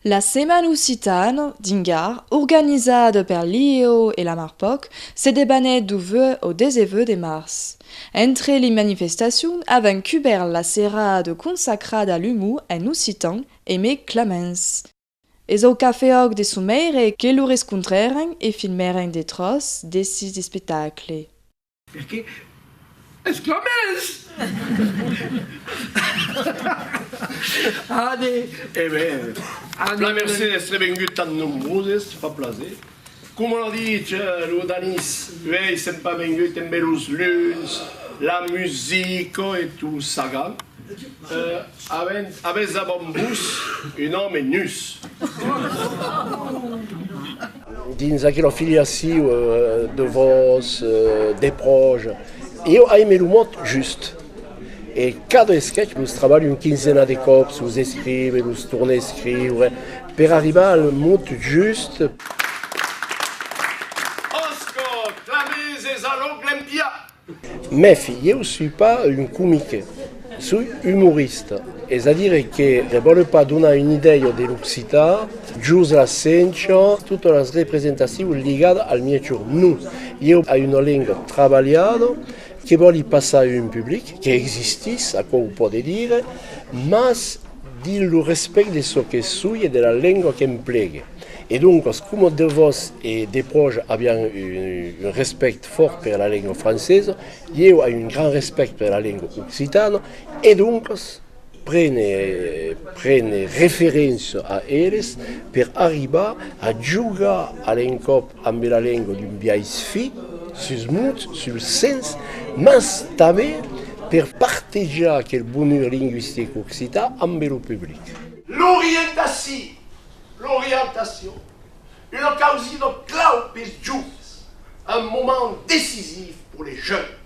La Setmana Occitana d'Ingar, organizada per l'IEO e la Marpòc, se debanèt du 8 au 19 de març. Entre li manifestacions avèn cubèrt la serada consacrada a l'umor en occitan e mai claments. Es au cafè Òc de Someire que lo rescontrèren e filmèren de tròç desses espectacle. Per qué? exclamètz! Ane! E ben, ane! La Mercé d'èstre vengut tan nombroses, fa plaser. Coma lo ditz lo danís, uei sèm pas vengut embe los luns, la musica e tu sagan, avent avès davant vos un òme nus. Dins aquela filiaciu de vos, de pròche, eu aime lo mot just. E cada esquech los trabalhi un quinzena de còps, los escrive, los torne a escriure, per arribar al mot just. Òsca, clamèses a l'oncle en piá! Mèfi, ieu sui pas un comique, sui umorista, es a dire que ne vòle pas donar una idèia de l'occitan, jos la sencha, totas las representacions ligadas al mièg jorn. Non, ieu ai una lenga trabalhada. Que vòli passar un public, qu'existís, aquò o pòde dire, mas dins lo respèct de çò que soi e de la lengua qu'emplegue. E doncas, coma de vos e de pròche avián un respèct fòrt per la lengua francesa, ieu ai un grand respèct per la lengua occitana e doncas, Prene, prene referença a eles per arribar a jogar a l'encòp ambe la lenga d'un biais fi sus mot, sul sens, mas tanben per partejar aquel bonur lingüistic occitan ambe lo public. L'orientaci, l'orientacion, una causina clau pes joves, un moment decisiv pour les jeunes.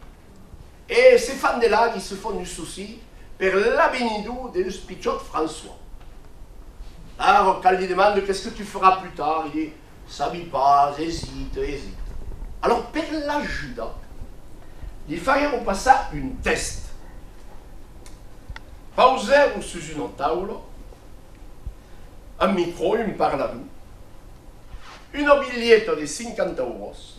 E se fan de la qui se fon du souci per l'avinidor deus pichòt François. Arrò quand li demande qu'est-ce que tu feras plus tard, il dit, sabi pas, hésite, hésite. Alors per l'ajudar, li faguèron passar un test. Pausèron sus una taula un micrò, un parlador, una bilheta de 50 euros,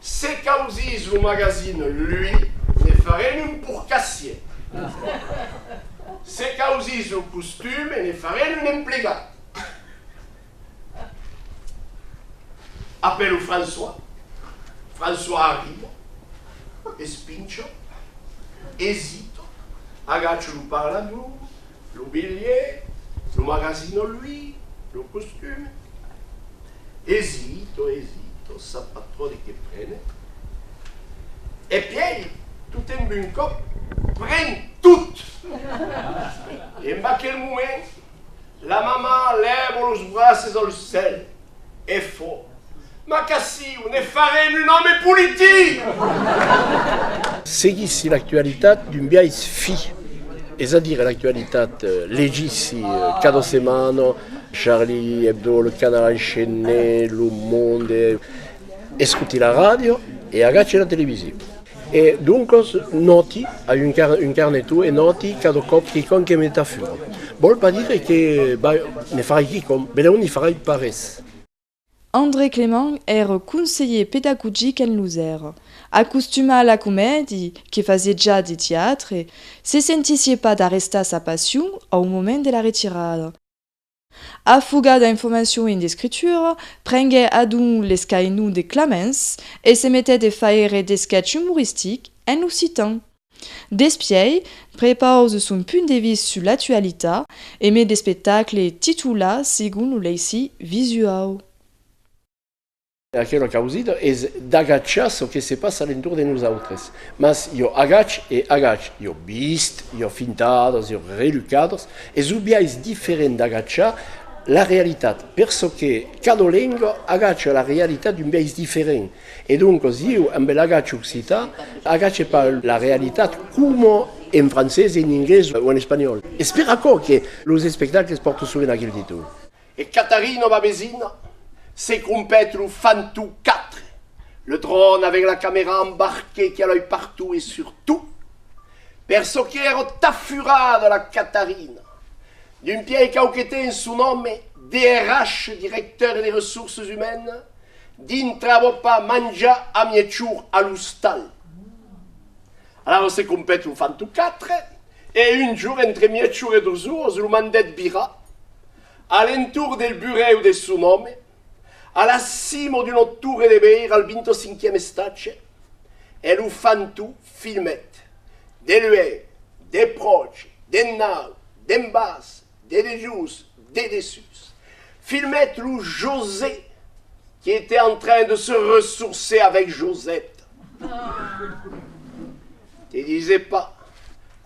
Se causís lo magazin Lui, ne farem un porcassier. Se causís lo costume, ne farem un emplegat. Apèlo François. François arriba, espincho, esito, agacho lo parlador, lo bilhet, lo magasin o lui, lo costum. Esito, esito, sap pas trop de que prene. E pièi, totemb un còp, pren tot! En aquel moment, la mamà lèvo los braces al cèl E fò. Ma qu'aciu ne farem un òme politic! Seguissi l'actualitat d'un biais fi, es a dire l'actualitat, legissi cada setmana Charlie Hebdo, Le Canard Enchaîné, Le Monde, escuti la ràdio e agaci la televisiu. E doncos nòti, a un car, un carneton, e nòti cada còp quicòm que me tafura. Vòl pas dire que vai, ne farai quicòm, benlèu n'i farai pas res. André Clément er conselhier pedagogic en Losèrre, acostumat a la comèdi, que fasié ja de tiatre, se sentissié pas d'arrestar sa passion au moment de la retirada. A fuga d'informacion en d'escritura, prenguè adonc l'escainhon de Clamens e se metèt e faire d'esquetch umoristic en occitan. Despièi, prepause son punt de vist sus l'actualitat e met d'espectacle titulat segon lo leissi visuau. Aquela causida es d'agachar çò que se passa a l'entorn de nosautres. Mas jo agache e agache, jo vist, jo fintadas, jo relhcadas, es un biais diferent d'agachar la realitat, per çò que cada lenga agacha la realitat d'un biais diferent. E doncas ieu, amb l'agach occitan, agache pas la realitat coma en francés, en inglés o en espanhòl. Es per aquò que los espectacles pòrtan sovent aquel títol. E Catarina, ma vesina, se crompèt lo fan tu quatre, le dròn avec la camera embarquée qui allait partout et sur tout, per çò que èra ta furada la Catarina, d'un pièi cau que té en son òme, DRH, directeur des ressources humaines, dintra vò pas manjar a mièg jorn a l'ostal. Alavetz se compèt lo fan tot quatre, e un jour entre mièchor e dos ors lo mandèt virar a l'entorn del burèu de son òme, a la cima d'una torre de veire al vintocinquièm estatge, e lo fan tot filmèt, de luènh, de pròche, d'ennaut, d'en bas, De dejós, de dessús. Filmèt lo José qui était en train de se ressourcer avec Josette. Te dise pas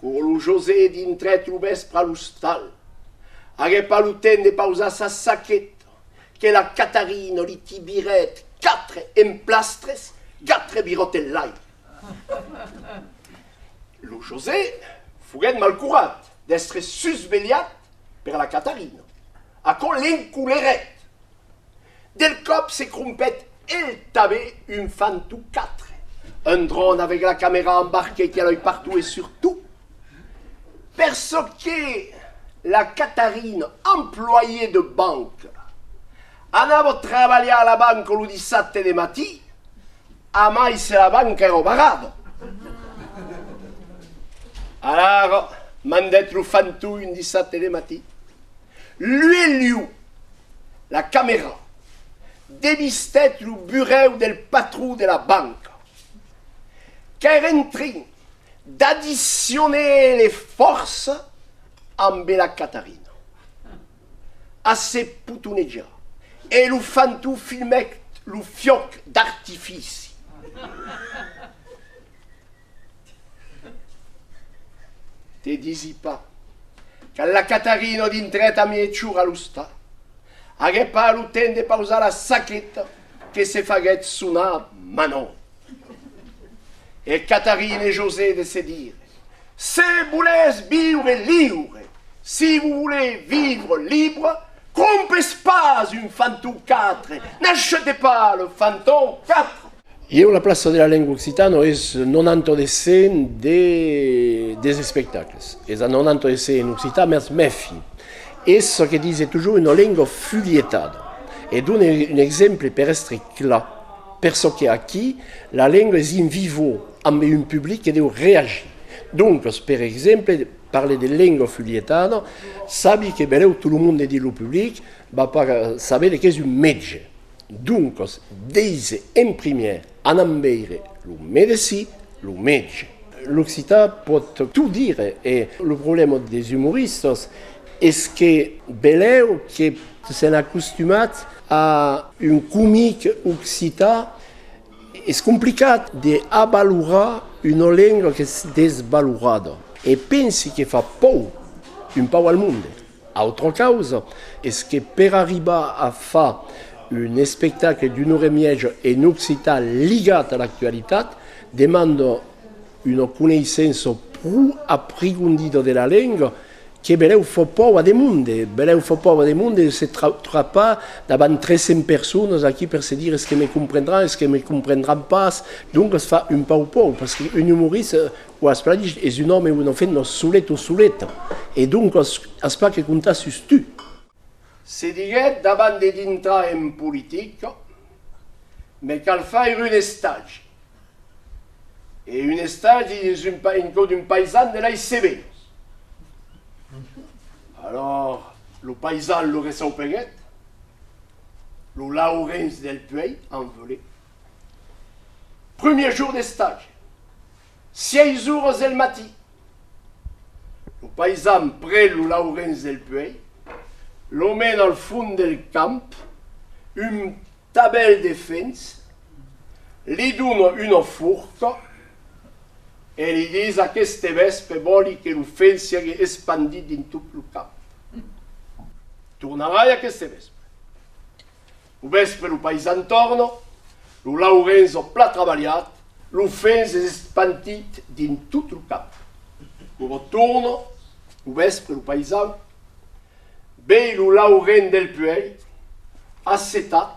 qu'aur lo José dintrèt lo vèspre a l'ostal, aguèt pas lo temps de pausar sa saqueta que la Catarina li tibirèt quatre emplastres, quatre virotellaires. Lo José foguèt malcurat. d'èstre susvelhat per la Catarina. Aquò l'encolerèt. Del còp se crompèt el tabé un fant o quatre. Un dròn avèc la camèra embarquèt ja loi partout e surtout, per çò que la Catarina, employée de banque, anava trabalhar a la banque lo dissabte de matí, Amai se la van qu'è robarado! Alar mandèt lo fantoi un dissabte de matí, luelhu la camera, devistèt lo burèu del patron de la banca. Qu'èr en trin d'adicioner le fòrça ambe la Catarina. a se potonejar e lo fantó filmèc lo fiòc d'artifici. Te disi pas que la Catarina dintrèt a miechor a l'ostà. Aguèt pas lo temps de pausar la saqueta que se faguèt sonar Manon. E Catarina e José de se dire Se volètz viure liure, si vos volé vivre libre, crompes pas un fanton 4, n'achetez pas le fanton 4. Ieu la plaça de la lengua occitana es non anto de scène de des espectacles es a non anto de ser en occitan mès mèfi es çò que dise tujor una lengua fulietada e done un exemple per èstre clar per çò que aquí la lengua es in vivo ambe un public que deu reagir. Doncas, per exemple, parle de lenga fulhetada, sabi que bereu tot lo monde dins lo public va pas saber de qu'es un metge. Doncas, deise en primièr, anam veire lo medecin, lo metge. L'occitan pòt tot dire e lo problèma des umoristas es que beleu que s'en acostumats a un comic occitan, Es complicat de avalorar una lenga qu'es desvalorada e pensi que fa paur un pauc al monde. Autra causa es que per arribar a far un espectacle d'una ora e mièja en occitan ligat a l'actualitat demanda una coneissença pro aprigondida de la lenga Que berèu fò pòva de monde, berèu fò pòva de monde de se trapar davant 300 personas aquí per se dire es que me comprendràn, es que me comprendràn pas, doncas fa un pauc pòur pas que un umorista o as pas dich es un òme o una femna solet o soleta e doncas as pas que comptar sus tu. Se diguèt davant de dintrar en politica me cal faire un estage E un estadi dins un pa, en cò d'un paisan de lei severas. Alòr lo paisan lo ressaupenhèt, lo Laurenç del Puèi en volé. Prumier jour d'estadi, sièis oras del matí, lo paisan pren lo Laurenç del Puèi, lo mena al fond del camp, un tabèl de fenç, Li dono una forta e li dis aqueste vèspe vòli que lo fèl siágue espandit dins tot lo cap. Tornarai aqueste vèspe. Lo vèspe lo paisan torna, lo Laurenç ò plat trabalhat, lo fèl s'es espandit dins tot lo cap. Ora torna lo vèspe lo paisan, vei lo Laurenç del puèi assetat,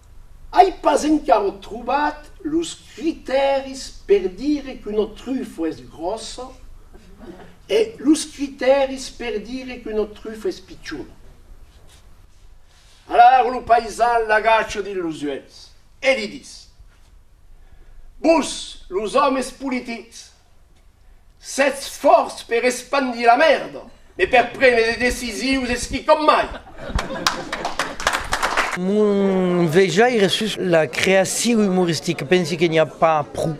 Ai pas encara trobat los critèris per dire qu'una trufa es gròssa e los critèris per dire qu'una trufa es pichona. Alara lo paisan l'agacha dins los uèlhs e li dis, Vos, los òmes politics, Sètz fòrts per espandir la mèrda, mais per prene de decisius es quicòm mai. Mon vejaire sus la creacion umoristica, pensi que n'i a pas pro,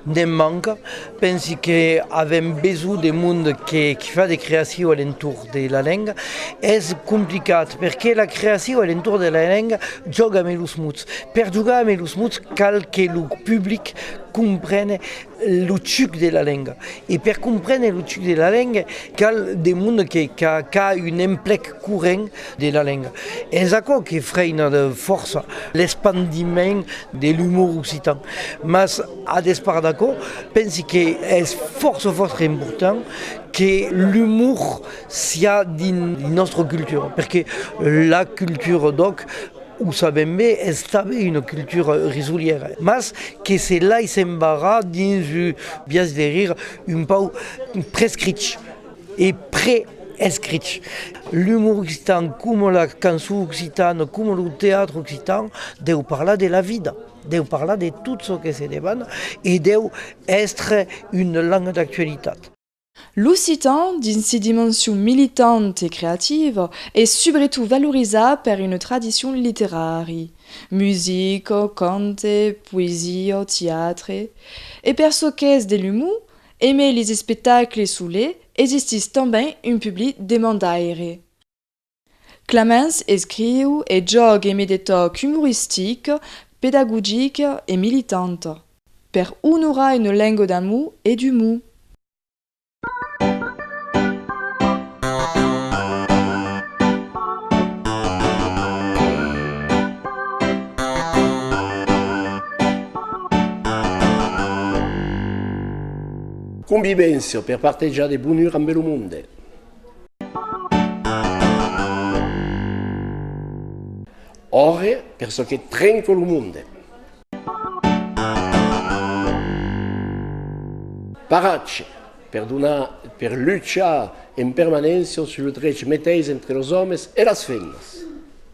ne'n manca. Pensi que avèm besonh de mond que qui fa de creacion a l'entorn de la lenga. Es complicat perque la creacion a l'entorn de la lenga jòga amé los mots. Per jogar amé los mots cal que lo public comprene lo chuc de la lenga e per comprene lo chuc de la lenga cal de monde que qu'a un emplec corrent de la lenga es aquò que freina de fòrça l'espandiment de l'umor occitan mas a despart d'aquò pensi que es fòrça fòrça important que l'umor siá dins nostra cultura perque la cultura d'òc O sabèm be, es tanben una cultura risolièra, mas que se lais embarrar dins un biais de rir un pauc prescrich e preescrich. L'umor occitan, coma la cançon occitana, coma lo teatre occitan, deu parlar de la vida, deu parlar de tot çò que se demana e deu èstre una lenga d'actualitat. L'occitan, dins si dimension militant e creativa, es subretot valorizat per una tradicion literari, musica, cante, poesia, tiatre, e per çò qu'es de l'umor, emé lis espectacles solets, existís tanben un public demandaire. Clemens escriu e jògue mai de tòc umoristic, pedagogic e militant, per onorar una lenga d'amor e d'umor. Convivència per partejar de bonur ambe lo monde. Òrre per çò que trenco lo monde. Paratge per donar per luchar en permanéncia sus lo drech meteis entre los òmes e las femnas.